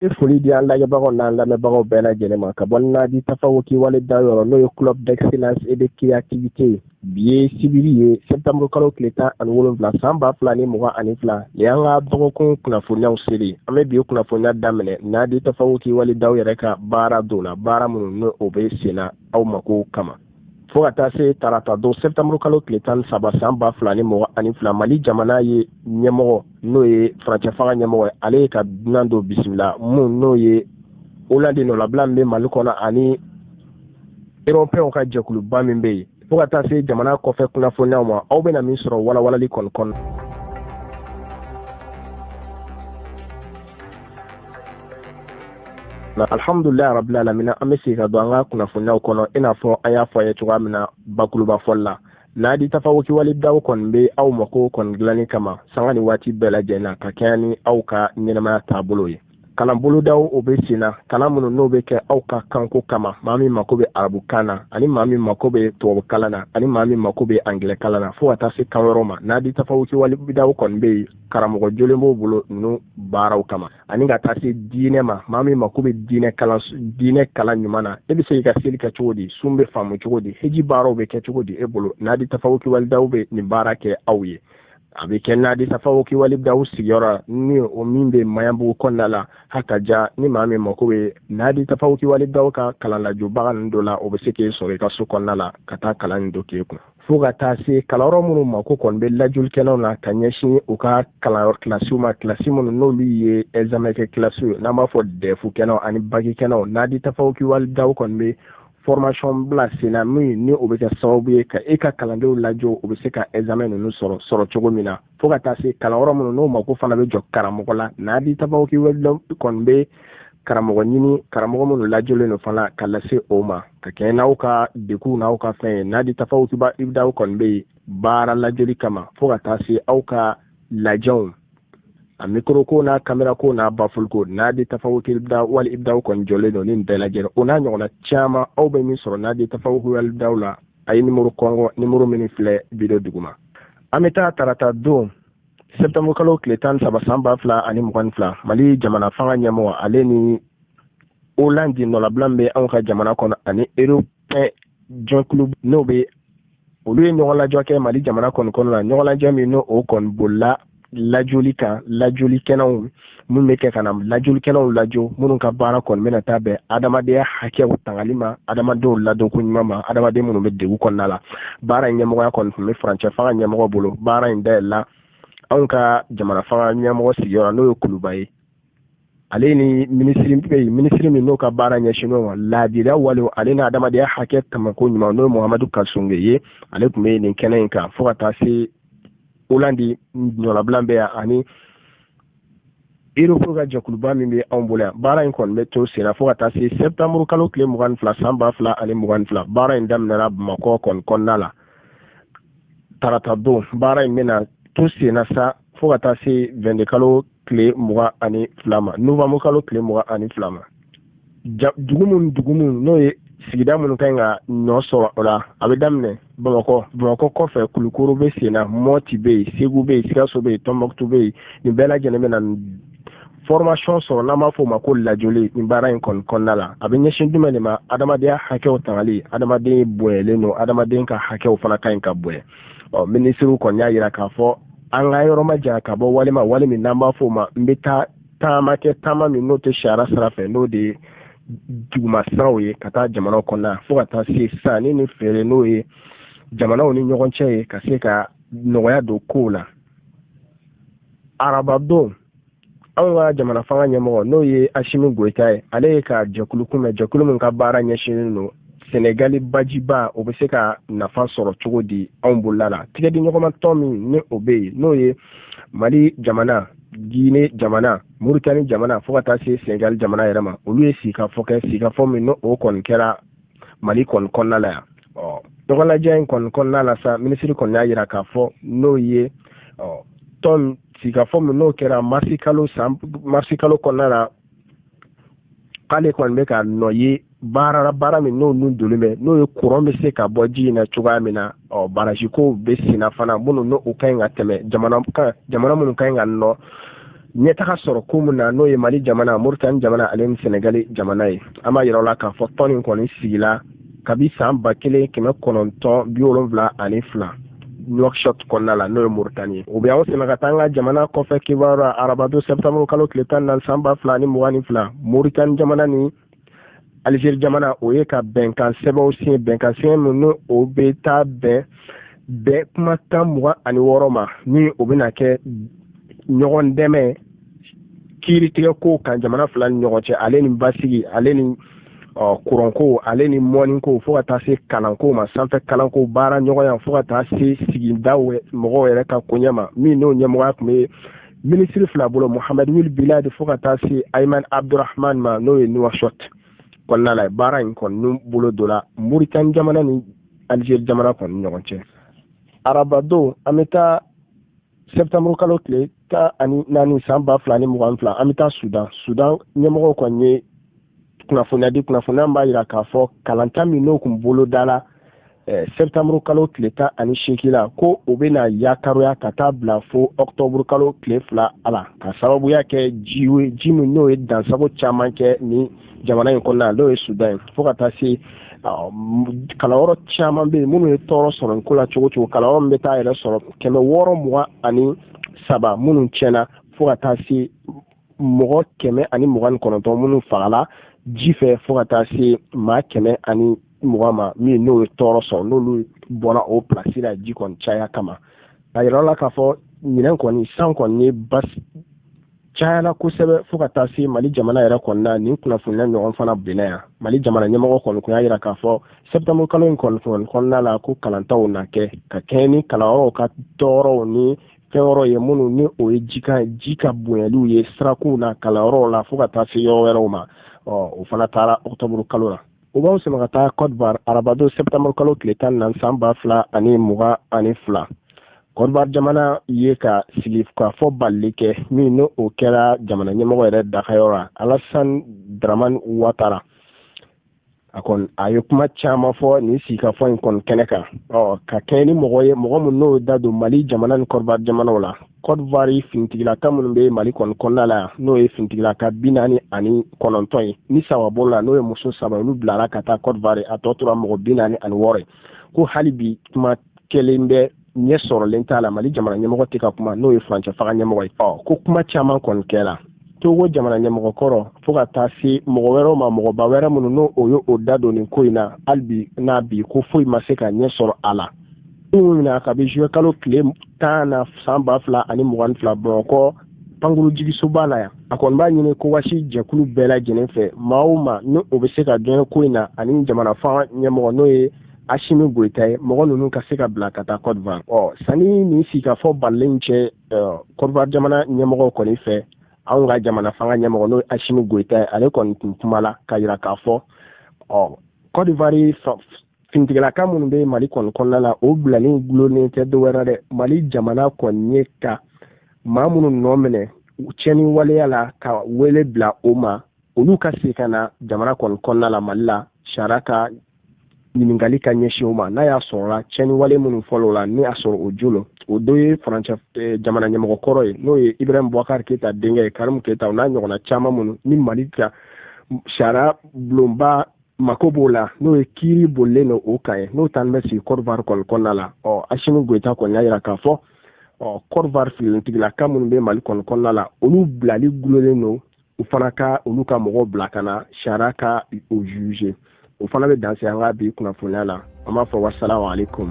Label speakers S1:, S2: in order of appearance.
S1: An ye foli di an lajɛbagaw n'an lamɛnbagaw bɛɛ lajɛlen ma ka bɔ naadi tafawuki wali ibidaw yɔrɔ n'o ye club d'excellence et de créativité bi ye sibiri ye septembre kalo tile tan ani wolonwula san ba fila ni mugan ani fila nin y'an ka dɔgɔkun kunnafoniyaw seli an bɛ bi kunnafoniya daminɛ naadi tafawuki wali ibidaw yɛrɛ ka baara dɔw la baara minnu ni o bɛ senna aw mako kama fo ka taa se tarata don sɛptanburu kalo tile tan saba san ba fila ni mugan ani fila mali jamana ye ɲɛmɔgɔ n'o ye furancɛ fanga ɲɛmɔgɔ ye ale ye ka dunan dɔ bisimila minnu n'o ye olandi nɔlabila min bɛ mali kɔnɔ ani erɔpɛnw ka jɛkuluba min bɛ yen fo ka taa se jamana kɔfɛ kunnafoniyaw ma aw bɛna min sɔrɔ walawalali kɔni kɔnɔ alhamdulilayi rabil alamina an bɛ sin ka don an ka kunnafoniyaw kɔnɔ i n'a fɔ an y'a fɔ aw ye cogoya min na bakuruba fɔli la naadi tafawuki wali ibidaw kɔni bɛ aw mako kɔni dilanni kama sanga ni waati bɛɛ lajɛlen na ka kɛɲɛ ni aw ka ɲɛnamaya taabolo ye kalan bolodaw o bɛ sen na kalan minnu n'o bɛ kɛ aw ka kanko kama maa min mako bɛ arabukan na ani maa min mako bɛ tubabukalan na ani maa min mako bɛ angilɛkalan na fo ka taa se kan wɛrɛw ma naadi tafawuki wali ibidaw kɔni bɛ yen karamɔgɔ jɔlen b'u bolo ninnu baaraw kama ani ka taa se diinɛ ma maa min mako bɛ diinɛ kalan diinɛ kalan ɲuman na e bɛ se k'i ka seli kɛ cogo di sun bɛ faamu cogo di heji baaraw bɛ kɛ cogo di e bolo naadi tafawuki wali ibidaw bɛ nin baara kɛ aw ye a bɛ kɛ naadi tafawuki wali ibidaw sigiyɔrɔ ni o min bɛ maɲanbugu kɔnɔna la hakaja ni maa min mako bɛ naadi tafawuki wali ibidaw ka kalanlajɔbaga ninnu dɔ la o bɛ se k'e sɔrɔ i ka so kɔnɔna la ka taa kalan nin dɔ k'e kun fo ka taa se kalanyɔrɔ minnu mako kɔni bɛ lajɔlikɛlaw na ka ɲɛsin u ka kalanyɔrɔ kilasiw ma kilasi minnu n'olu ye ɛzamɛkɛ kilasiw ye n'an b'a fɔ dɛfu kɛnɛw ani baki kɛnɛw naadi tafawuki wali ibidaw kɔni bɛ formation bila sen na min ni o bɛ kɛ sababu ye ka e ka kalandenw lajɔ u bɛ se ka ɛzamɛ ninnu sɔrɔ sɔrɔ cogo min na fo ka taa se kalanyɔrɔ minnu n'o mako fana bɛ jɔ karamɔgɔ la naadi tafawuki wali ibidaw kɔni bɛ karamɔgɔ ɲini karamɔgɔ minnu lajɔlen don fana ka lase o ma ka kɛɲɛ n'aw ka degun n'aw ka fɛn ye naadi tafawuki wali ibidaw kɔni bɛ yen baara lajɔli kama fo ka taa se aw ka lajɛw a mikoro ko n'a kamera ko n'a baful ko naadi tafawuki ibidaw wali ibidaw kɔni jɔlen don nin bɛɛ lajɛlen o n'a ɲɔgɔnna caman aw bɛ min sɔrɔ naadi tafawuki wali ibidaw la aw ye nimoro kɔnkɔn nimoro minnu filɛ wideyo duguma an bɛ taa tarata don sɛptanburu kalo tile tan saba san ba fila ani mugan ni fila mali jamana fanga ɲɛmɔgɔ ale ni olandi nɔlabila min bɛ anw ka jamana kɔnɔ ani erɔpɛn jɛkulu n'o bɛ olu ye ɲɔgɔnlajɔ kɛ mali jamana kɔni kɔnɔ na ɲɔgɔnlajɔ min n' o kɔni bolila lajɔli kan lajɔli kɛnɛw minnu bɛ kɛ ka na lajolikɛlaw lajo minnu ka baara kɔni bɛna taa bɛn adamadenya hakɛw tangali ma adamadenw ladonko ɲuman ma adamaden minnu bɛ dɛgun kɔnɔna la baara in ɲɛmɔgɔya kɔni tun bɛ furancɛ fanga ɲɛmɔgɔ bolo baara in dayɛlɛla anw ka jamana fanga ɲɛmɔgɔ sigiyɔrɔ n'o ye kuluba ye ale ni minisiri bɛ yen minisiri min n'o ka baara ɲɛsinnen ma laadiriya wale ale ni adamadenya hakɛ tangako ɲuman n'o ye muhamadu kasoge ye ale tun bɛ nin kɛnɛ in kan fo ka taa se olandi nɔnabila bɛ yan ani erɔpu ka jɛkuluba min bɛ anw bolo yan baara in kɔni bɛ to senna fo ka taa se sɛtanburu kalo tile mugan ni fila san ba fila ani mugan ni fila baara in daminɛna bamakɔ kɔni kɔnɔna la tarata don baara in bɛna to senna sa fo ka taa se wɛnde kalo tile mugan ani fila ma nowanburu kalo tile mugan ani fila ma dugu minnu dugu minnu n'o ye sigida minnu ka ɲi ka nɔ sɔrɔ o la a bɛ daminɛ bamakɔ bamakɔ kɔfɛ kulukɔrɔ bɛ sen na mɔti bɛ yen segu bɛ yen sikaso bɛ yen tɔnbukutu bɛ yen nin bɛɛ lajɛlen bɛ na formation sɔrɔ n'an b'a fɔ ma ko lajoli nin baara in kɔni kɔnɔna la a bɛ ɲɛsin jumɛn de ma adamadenya hakɛw tangali adamaden bonyalen don adamaden ka hakɛw fana ka ɲi ka bonya ɔ minisiriw kɔni y'a jira k'a fɔ an ka yɔrɔ majanya ka bɔ wale ma wale min n'an b'a fɔ o ma n bɛ taa taama kɛ taama min n'o tɛ sariya sira fɛ n'o de ye duguma siraw ye ka taa jamanaw kɔnɔna fo ka taa se sanni ni feere n'o ye jamanaw ni ɲɔgɔn cɛ ye ka se ka nɔgɔya don kow la arabadon anw ka jamana fanga ɲɛmɔgɔ n'o ye asimi goyita ye ale ye ka jɛkulu kunbɛn jɛkulu min ka baara ɲɛsinnen don senegali bajiba o bɛ se ka nafa sɔrɔ cogo di anw bolola la tɛgɛdiɲɔgɔnmatɔn min ni o bɛ yen n'o ye mali jamana jine jamana muritani jamana fo ka taa se senegali jamana yɛrɛ ma olu ye sigikafɔ kɛ sigikafɔ min ni o kɔni kɛra mali kɔni kɔnɔna la yan ɔ ɲɔgɔnlajɛ in kɔni kɔnɔna la sa minisiri kɔni y'a yira k'a fɔ n'o ye ɔ tɔn sigikafɔ min n'o kɛra marisi kalo san marisi kalo kɔnɔna la k'ale kɔni bɛ ka nɔ ye baara baara min n'o nun donnen bɛ n'o ye kuran bɛ se ka bɔ ji in na cogoya min na ɔ barazikow bɛ senna fana minnu n'u ka ɲi ka tɛmɛ jamana kan jamana minnu ka ɲi ka nɔ ɲɛtaga sɔrɔ ko min na n'o ye mali jamana moritani jamana ale ni senegali jamana ye an b'a yira aw la k'a fɔ tɔn nin kɔni sigila kabi san ba kelen kɛmɛ kɔnɔntɔn bi wolonwula ani fila Nouakchott kɔnɔna la n'o ye Mauritanie ye o bɛ anw sama ka taa an ka jamana kɔfɛ kibaru la arabadon septembre kalo tile tan ni naani san ba fila ani mugan ni fila Mauritanie jamana ni Algérie jamana o ye ka bɛnkan sɛbɛnw siɲɛ bɛnkan siɲɛ min ni o bɛ taa bɛn bɛn kumakan mugan ani wɔɔrɔ ma ni o bɛna kɛ ɲɔgɔn dɛmɛ kiiritigɛkow kan jamana fila ni ɲɔgɔn cɛ ale ni basigi ale ni kuranko ale ni mɔniko fo ka taa se kalanko ma sanfɛ kalanko baara ɲɔgɔnya fo ka taa se sigida mɔgɔw yɛrɛ ka koɲɛ ma min n'o ɲɛmɔgɔya tun bɛ minisiri fila bolo mohamɛdi wuli bilali fo ka taa se ayimani abudurahman ma n'o ye nuwasɔti kɔnɔna la baara in kɔni bolodala moritani jamana ni alizeri jamana kɔni ɲɔgɔn cɛ arabadon an bɛ taa septembre kalo tile tan ani naani san ba fila ni mugan fila an bɛ taa sudan sudan ɲɛmɔgɔw kɔni ye kunnafoniya di kunnafoniya min b'a jira k'a fɔ kalanta min n'o tun bolodala eh, septembre kalo tile tan ani seegin la ko o bɛna yakaroya ka taa bila fo octobre kalo tile fila a la ka sababuya kɛ ji ye ji min n'o ye dansagon caman kɛ ni jamana in kɔnɔna n'o ye sudan ye fo ka taa se kalanyɔrɔ caman bɛ yen minnu ye tɔɔrɔ sɔrɔ nin ko la cogo cogo kalanyɔrɔ min bɛ taa yɛrɛ sɔrɔ kɛmɛ wɔɔrɔ mugan ani saba minnu tiɲɛna fo ka taa se mɔgɔ kɛmɛ ani mugan ni kɔnɔntɔn minnu fagala ji fɛ fo ka taa se maa kɛmɛ ani mugan ma min n'o ye tɔɔrɔ sɔrɔ n'olu bɔra o pilasi la ji kɔni caya kama a yɛrɛ la k'a fɔ ɲinɛn kɔni san kɔni ye basi cayala kosɛbɛ fo ka taa se mali jamana yɛrɛ kɔnɔna nin kunnafoniya ɲɔgɔn fana benna yan mali jamana ɲɛmɔgɔ kɔni kun y'a yira k'a fɔ sɛptanburu kalo in kɔni kɔnɔna la ko kalantaw na kɛ ka kɛɲɛ ni kalanyɔrɔw ka tɔɔrɔw ni fɛn yɔrɔ ye minnu ni o ye ji ka ji ka bonyaliw ye sirakunw na kalanyɔrɔw la fo ka taa se yɔrɔ wɛrɛw ma ɔ o fana taara ɔkutɔburu kalo la O b'aw sama ka taa Kodowari arabadon septembre kalo tile tan ni naani san ba fila ani mugan ani fila Kodowari jamana y'a ka sigikafɔ balalen kɛ min n'o o kɛra jamana ɲɛmɔgɔ yɛrɛ dagayɔrɔ la Alassane Dramane Ouattara a kɔni a ye kuma caman fɔ nin sigikafɔ in kɔni kɛnɛ kan ɔ ka kɛɲɛ ni mɔgɔ ye mɔgɔ min n'o da don Mali jamana ni Kodowari jamanaw la kɔdwari finitigilaka minnu bɛ mali kɔni kɔnɔna la n'o ye finitigilaka bi naani ani kɔnɔntɔn ye ni saba bɔla o la n'o ye muso saba olu bilara ka taa kɔdwari a tɔ tora mɔgɔ bi naani ani wɔɔrɔ ye ko hali bi kuma kɛlen bɛ ɲɛ sɔrɔlen t'a la mali jamana ɲɛmɔgɔ tɛ ka kuma n'o ye furancɛ fanga ɲɛmɔgɔ ye ko kuma caman kɔni kɛra togo jamana ɲɛmɔgɔ kɔrɔ fo ka taa se mɔgɔ wɛrɛw ma mɔgɔba wɛrɛ minnu n'o o ye o da don nin ko in na hali bi n'a bi ko foyi ma se ka ɲɛ sɔrɔ a la minnu minɛ kabi zuye kalo tile tan na san ba fila ani mugan ni fila bamakɔ pankurun jiginsoba la yan a kɔni b'a ɲini ekowasi jɛkulu bɛɛ lajɛlen fɛ maa o maa ni o bɛ se ka don ko in na ani jamana fanga ɲɛmɔgɔ n'o ye asimi goyita ye mɔgɔ ninnu ka se ka bila ka taa kɔdivari ɔ sani nin sigikafɔ balalen cɛ kɔdivari jamana ɲɛmɔgɔ kɔni fɛ anw ka jamana fanga ɲɛmɔgɔ n'o ye asimi goyita ye ale kɔni tun kumala k'a jira k'a fɔ ɔ kɔdivari finitigilaka minnu bɛ mali kɔni kɔnɔna la o bilali dulonnen tɛ dɔ wɛrɛ dɛ mali jamana kɔni ye ka maa minnu nɔ minɛ tiɲɛni waleya la ka wele bila o ma olu ka se ka na jamana kɔni kɔnɔna la mali la sariya ka ɲininkali ka ɲɛsin o ma n'a y'a sɔrɔla tiɲɛni wale minnu fɔl'o la ni y'a sɔrɔ o jolo o dɔ ye farancɛ eh, jamana ɲɛmɔgɔ kɔrɔ ye n'o ye ibrahim bubakari keyita denkɛ ye karimu keyita o n'a ɲɔgɔnna caman minnu ni mali ka sariya bulonba mako b'o la n'o ye kiiri bolilen don o kan ye n'o tan bɛ sigi kɔdiwari kɔni kɔnɔna la ɔ asimi goyita kɔni y'a jira k'a fɔ ɔ kɔdiwari finitigilaka minnu bɛ mali kɔni kɔnɔna la olu bilali dulonnen don u fana ka olu ka mɔgɔw bila ka na sariya ka u juge o fana bɛ dan se an ka bi kunnafoniya la an b'a fɔ wasalamu aleykum